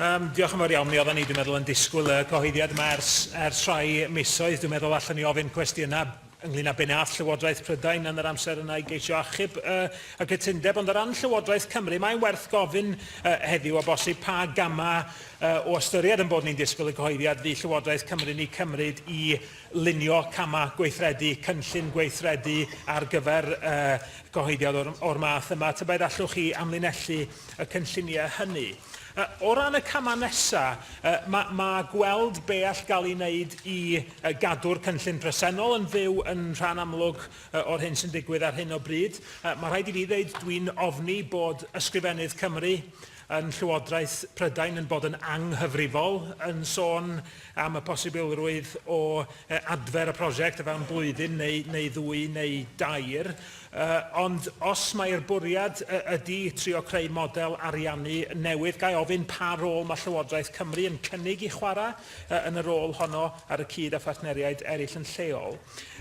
Yym, diolch yn fawr iawn. Mi oeddan ni, dwi'n meddwl, yn disgwyl y cyhoeddiad yma ers, ers rhai misoedd. Dwi'n meddwl allan ni ofyn cwestiynau ynglyn â be nath Llywodraeth Prydain yn yr amser yna i geisio achub uh, y cytundeb, ond o ran Llywodraeth Cymru, mae'n werth gofyn uh, heddiw o bosib pa gamau uh, o ystyried yn bod ni'n disgwyl y cyhoeddiad fydd Llywodraeth Cymru ni cymryd i lunio camau gweithredu, cynllun gweithredu ar gyfer uh, cyhoeddiad o'r, or math yma. Tybed allwch chi amlinellu y cynlluniau hynny. O ran y camau nesaf, mae ma gweld be all gael ei wneud i gadw'r cynllun presennol yn fyw yn rhan amlwg o'r hyn sy'n digwydd ar hyn o bryd. Mae rhaid i fi ddeud, dwi'n ofni bod Ysgrifennydd Cymru yn Llywodraeth Prydain yn bod yn anghyfrifol yn sôn am y posibilrwydd o adfer y prosiect o fewn blwyddyn neu, neu ddwy neu dair. Ond os mai'r bwriad ydy trio creu model ariannu newydd, ga i ofyn pa rôl mae Llywodraeth Cymru yn cynnig i chwarae yn y rôl honno ar y cyd â phartneriaid eraill yn lleol?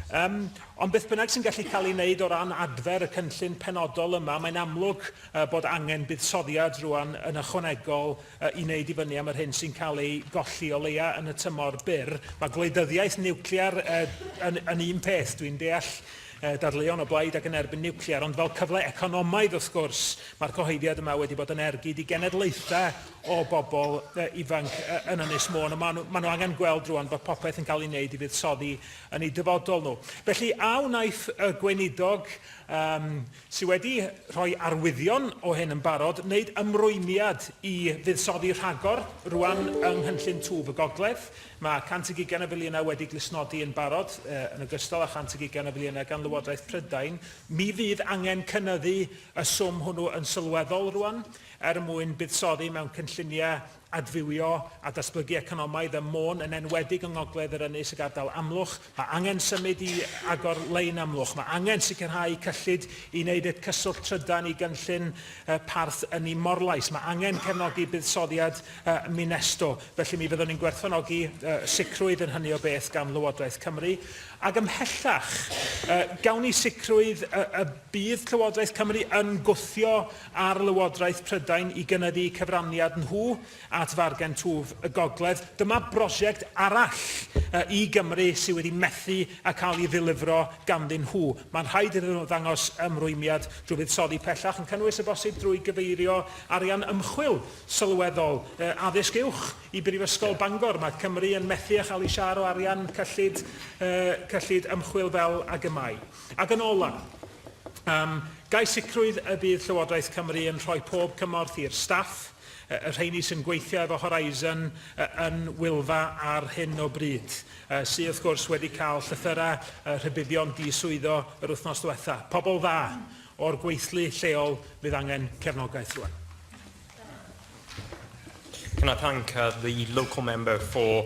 Ond beth bynnag sy'n gallu cael ei wneud o ran adfer y cynllun penodol yma, mae'n amlwg bod angen buddsoddiad rŵan yn ychwanegol i wneud i fyny am yr hyn sy'n cael ei golli, o leia' yn y tymor byr. Mae gwleidyddiaeth niwclear yn un peth, dwi'n deall, dadleuon o blaid ac yn erbyn niwclear, ond fel cyfle economaidd wrth gwrs, mae'r cyhoeddiad yma wedi bod yn ergyd i genedlaethau o bobl ifanc yn Ynys Môn, a maen nhw, maen nhw angen gweld rwan bod popeth yn cael ei wneud i fuddsoddi yn eu dyfodol nhw. Felly, a wnaiff y gweinidog um, sydd wedi rhoi arwyddion o hyn yn barod, wneud ymrwymiad i fuddsoddi rhagor rwan yng Nghynllun Twf y Gogledd, Mae 120 o filiynau wedi glustnodi yn barod, yn ogystal â 120 o filiynau gan Lywodraeth Prydain. Mi fydd angen cynyddu y swm hwnnw yn sylweddol rŵan er mwyn buddsoddi mewn cynlluniau adfywio a datblygu economaidd ym Môn, yn enwedig yng Ngogledd yr Ynys ac Ardal Amlwch. Mae angen symud i agor lein Amlwch. Mae angen sicrhau cyllid i wneud et cyswllt trydan i gynllun parth ynni Morlais. Mae angen cefnogi buddsoddiad Minesto. Felly mi fyddwn ni'n gwerthfawrogi sicrwydd yn hynny o beth gan Lywodraeth Cymru. Ac ymhellach, gawn ni sicrwydd y bydd Llywodraeth Cymru yn gwthio ar Lywodraeth Prydain i gynyddu cyfraniad nhw at Fargen Twf y Gogledd, dyma brosiect arall i Gymru sydd wedi methu â cael ei ddilifro ganddyn nhw. Mae'n rhaid iddyn nhw ddangos ymrwymiad drwy fuddsoddi pellach, yn cynnwys o bosib drwy gyfeirio arian ymchwil sylweddol, addysg uwch, i Brifysgol Bangor. Mae Cymru yn methu â chael ei siâr o arian cyllid, cyllid ymchwil fel ag y mae. Ac yn ola', gai sicrwydd y bydd Llywodraeth Cymru yn rhoi pob cymorth i'r staff, y rheini sy'n gweithio efo Horizon yn Wylfa ar hyn o bryd, sy wrth gwrs wedi cael llythyrau rhybuddion di-swyddo yr wythnos ddiwetha'. Pobl dda o'r gweithlu lleol fydd angen cefnogaeth rwan. Can I thank the local member for